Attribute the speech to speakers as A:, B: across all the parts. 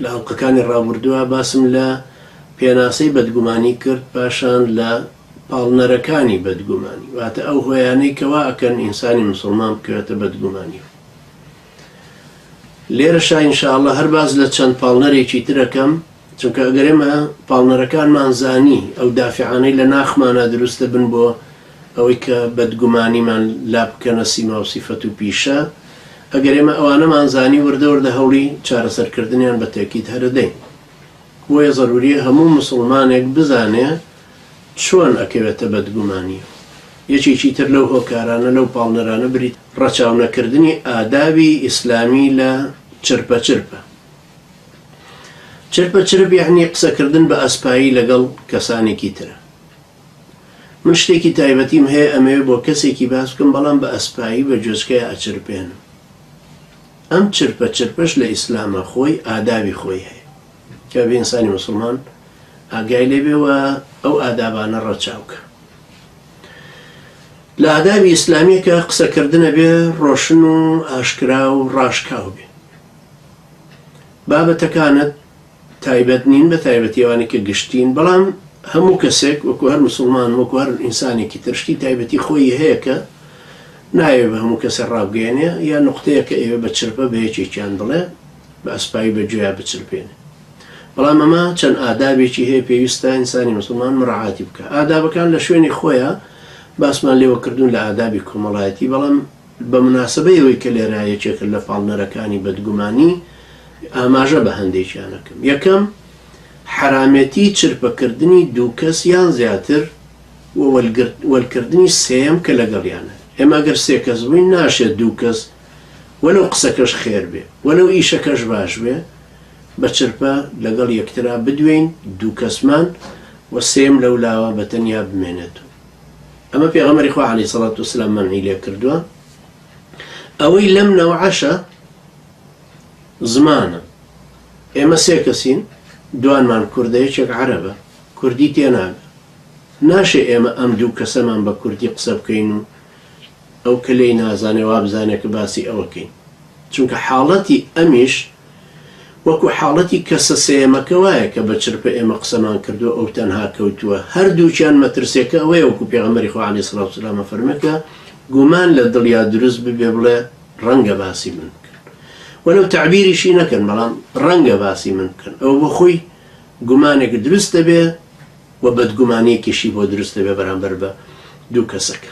A: لە ئەڵقەکانی ڕابوردوا باسم لە پێناسەی بەدگومانی کرد پاشان لە پاڵنەرەکانی بەدگومانی واتە ئەو هۆیانەی کە وا ئەکەن ئینسانی مسوڵمان بکەوێتە بەدگومانیەوە لێرەشا ان شاء اللە هەر باس لە چەند پاڵنەرێکی تر ئەکەم چونکە ئەگەر ئێمە پاڵنەرەکانمان زانی ئەو دافعانەی لە ناخمانا دروستە بن بۆ ئەوەی کە بەدگومانیمان لا بکەنە سیما و سیفەت و پیشە، ئەگەر ئێمە ئەوانەمان زانی وردە وردە هەوڵی چارەسەر کردنیان بە تەئکید هەرەدەین. بۆیە زەروریە هەموو موسوڵمانێک بزانێ چۆن ئەکەوێتە بەدگومانی. یەکێکی تر لەو هۆکارانە لەو پاڵنەرانە بریتیە لە ڕەچاو نەکردنی ئادابی ئیسلامی لە چرپە چرپە. چرپە چرپ یەعنی قسەکردن بە ئەسپایی لەگەڵ کەسانێکی ترە. من شتێکی تایبەتیم هەیە ئەمەوێ بۆ کەسێکی باس بکەم بەڵام بە ئەسپایی بە جۆچکەیا ئەچرپێنم ئەم چرپە چرپەش لە ئیسلامە خۆی ئادابی خۆی هەیە کە بە ئینسانی مسلمان ئاگای لێبێەوە ئەو ئادابانە ڕەچاوکە لە ئادابی ئیسلامیەکە قسەکردنە بێ ڕۆشن و ئاشکرا و ڕاشکاو بێ بابەتەکانت تایبەت نین بە تایبەتی ئەوانەی کە گشتین بەڵام هەموو کەسێک وەکو هەر مسوڵمان وەکو هەر ئینسانێکی تر شتی تایبەتی خۆیی هەیە کە نایەوێ بە هەموو کەسێ ڕابگەیەنێ یا نوقتەیە کە ئەیەوێ بە چرپە بە یەکێکیان بڵێ بە ئەسپایی بە گوێیا بچرپێنێ بەڵام ئەمە چەند ئادابێکی هەیە پێویستە ئینسانی مسلمان مراعاتی بکە ئادابەکان لە شوێنی خۆیە باسمان لێوە کردوون لە ئادابی کۆمەڵایەتی بەڵام بە مناسەبەی ئەوەی کە لێرە یەکێکە لە پاڵنەرەکانی بەدگومانی، ئاماژە بە هەندێکیان ئەکەم، یەکەم، حەرامێتی چرپەکردنی دوو کەس یان زیاتر و وەلکردنی سێیەم کە لەگەڵیانە، ئێمە ئەگەر سێ کەس بووین ناشێت دوو کەس وەلەو قسەکەش خێر بێ وەلەو ئیشەکەش باش بێ بە چرپە لەگەڵ یەکترا بدوێین دوو کەسمان و سێیەم لەولاوە بە تەنیا بمێنێت و. ئەمە پێغەمەری خوا عەلی سەڵات و سلام مەنعی لێ کردووە ئەوەی لەم نەوعەشە زمانە ئێمە سێ کەسین دوانمان کوردە یەکێک عربە کوردی تێناگە ناشێ ئێمە ئەم دوو کەسەمان بە کوردی قسە بکەین و ئەو کە لی نازانێ وا بزانێت کە باسی ئەوەکەین چونکە حاڵەتی ئەمیش وەکو حاڵەتی کەسە سێیەمەکە وایە کە بە چرپە ئێمە قسەمان کردووە ئەو تەنها کەوتووە، هەردووکیان مەترسیەکە ئەوەیە وەکو پێغەمبەری خوا علیە سڵات وسلام ئەفەرموێ کە گومان لە دڵیا دروست ببێ بڵێ ڕەنگە باسی من بکەن وەلەو تەعبیریشی نەکەن بەڵام ڕەنگە باسی من بکەن ئەوە بۆ خۆی گومانێک دروست دەبێ و بەدگومانیەکیشی بۆ دروست دەبێ بەرامبەر بە دوو کەسەکە.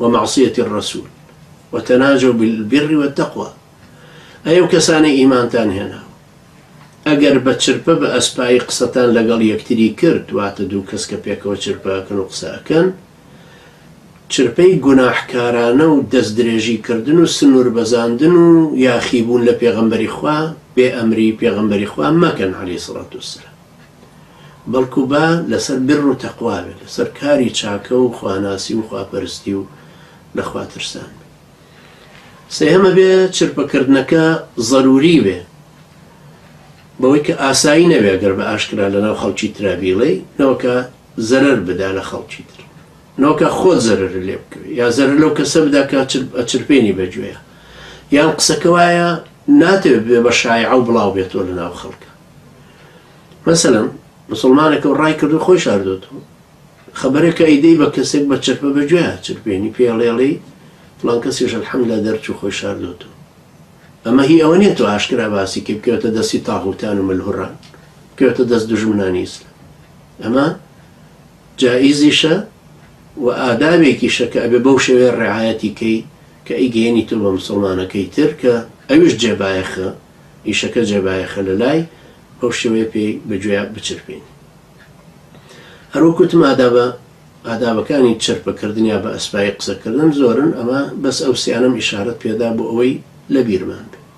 A: ومعصیە الرسول وتناجوا بالبر والتقوی ئەی ئەو کەسانەی ئیمانتان هێناوە ئەگەر بە چرپە بە ئەسپایی قسەتان لەگەڵ یەکتری کرد واتە دوو کەس کە پێکەوە چرپە ئەکەن و قسە ئەکەن چرپەی گوناحکارانە و دەست درێژی کردن و سنوور بەزاندن و یاخیبوون لە پێغەمبەری خوا بێ ئەمری پێغەمبەری خوا مەکەن عەلەیهی سڵاتوسلام بەڵکو با لەسەر بر و تەقوا بێت، لەسەر کاری چاکە و خواناسی و خواپەرستی و لە خوا ترسان بێت. سێهەم ئەبێ چرپکردنەکە زەروری بێ، بەوەی کە ئاسایی نەبێ گەر بە ئاشکرا لەناو خەڵکی ترا بیڵێی، نەوەکە زەرەر بدا لە خەڵکی تر، نەوەکە خۆت زەرەر لێ بکەوێ، یا زەرەر لەو کەسە بدا کە ئەچرپێنی بە گوێیا، یان قسەکە وایە ناتەوێ ببێ بە شایعە و بڵاو بێتەوە لەناو خەڵکا. مەسەلەن مسوڵمانەکە و ڕای کردو خۆی شاردۆتەوە خەبەرەکە ئەیدەی بە کەسێک بە چرپە بە گوێ چرپێنی پێڵێڵی فڵان کەسیش الحمدلله دەرچوو خۆی شاردۆتەوە ئەمە هی ئەوە نیە تۆ ئاشکرا باسی کە بکەوێتە دەستی تاغوتان و ملهوڕان بکەوێتە دەست دژمنانی ئیسلام ئەمە جائیزیشە و ئادابێکیشە کە ئەبێ بەو شێوێ ڕعاەتی کەی کە ئەیگەێنی تۆ بە مسلمانەکەی تر کە ئەوش جێبایەخە ئیشەکە جێ بایەخە لە لای ئەو شێوەیە پێی بە گوێیا بچرپین. هەر وەک وتم ئادابە ئادابەکانی چرپە کردن یا بە ئەسپایی قسە کردن زۆرن ئەمە بەس ئەو سیانەم ئیشارەت پێدا بۆ ئەوەی لە بیرمان بێ.